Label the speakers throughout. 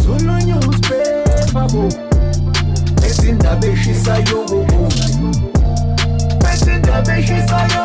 Speaker 1: Zulu newspaper bo Ezindaba eshisayo bo Ezindaba eshisayo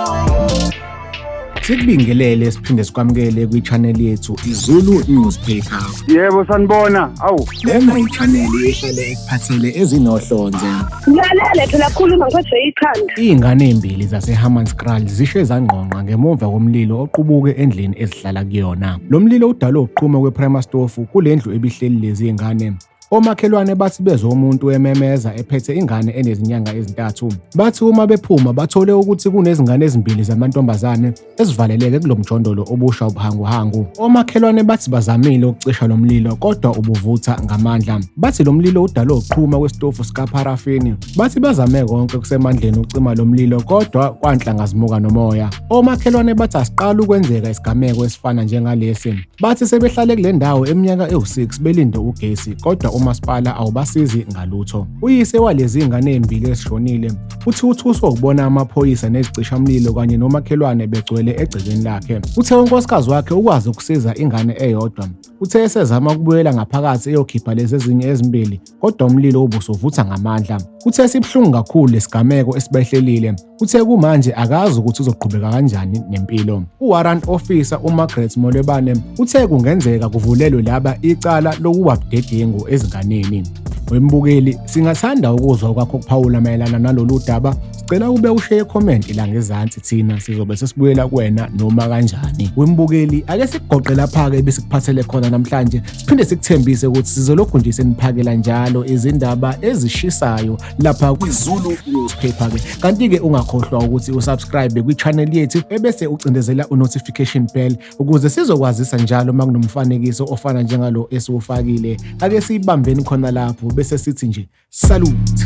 Speaker 1: Sikubingelele siphinde sikwamukele kwi-channel yethu iZulu Newspaper. Yebo sanibona.
Speaker 2: Awu Lena yichaneli
Speaker 1: ehlale ekuphathele ezinohlonze. Ngilalele
Speaker 3: phela khuluma ngiphethwe ikhanda. Iy'ngane ezimbili
Speaker 1: zaseHammanskraal zishe zangqongqa ngemuva komlilo oqubuke endlini ezihlala kuyona. Lo mlilo udalwe ukuqhuma kwe-primer stove kule ndlu ebihleli lezi ngane Omakhelwane bathi bezwe umuntu ememeza ephethe ingane enezinyanga ezintathu. Bathi uma bephuma bathole ukuthi kunezingane ezimbili zamantombazane ezivaleleke kulo mjondolo obusha ubuhanguhangu. Omakhelwane bathi bazamile ukucisha lo mlilo kodwa ubuvutha ngamandla. Bathi lo mlilo udalwe ukuqhuma kwesitofu sikapharafini. Bathi bazame konke kusemandleni ukucima lo mlilo kodwa kwanhla ngazimuka nomoya. Omakhelwane bathi asiqali ukwenzeka isigameko esifana njengalesi. Bathi sebehlale kule ndawo eminyaka ewu-6 belinde ugesi kodwa umasipala awubasizi ngalutho. Uyise walezi ngane ezimbili ezishonile Uthi uthuswa ukubona amaphoyisa nezicishamlilo kanye nomakhelwane begcwele egcekeni lakhe. Uthe unkosikazi wakhe ukwazi ukusiza ingane eyodwa. Uthe esezama ukubuyela ngaphakathi eyokhipha lezi ezinye ezimbili kodwa umlilo ubusuvutha ngamandla. Uthe sibuhlungu kakhulu lesigameko esibehlelile. Uthe kumanje akazi ukuthi uzoqhubeka kanjani nempilo. U-warrant officer uMargaret Molebane uthe kungenzeka kuvulelwe laba icala lokuba budedengu ezinganeni. Wembukeli, singathanda ukuzwa kwakho kuphawula mayelana nalolu daba. Sicela ube ushaye comment la ngezansi thina sizobe sesibuyela kuwena noma kanjani. Wembukeli, ake sikugoqe lapha ke besikuphathele khona namhlanje. Siphinde sikuthembise ukuthi sizolokhu nje seniphakela njalo izindaba ezishisayo lapha kwiZulu newspaper ke. Kanti ke ungakhohlwa ukuthi usubscribe kwi-channel yethu ebese ucindezela unotification bell ukuze sizokwazisa njalo uma kunomfanekiso ofana njengalo esiwufakile ake siyibambeni khona lapho bese sithi nje salute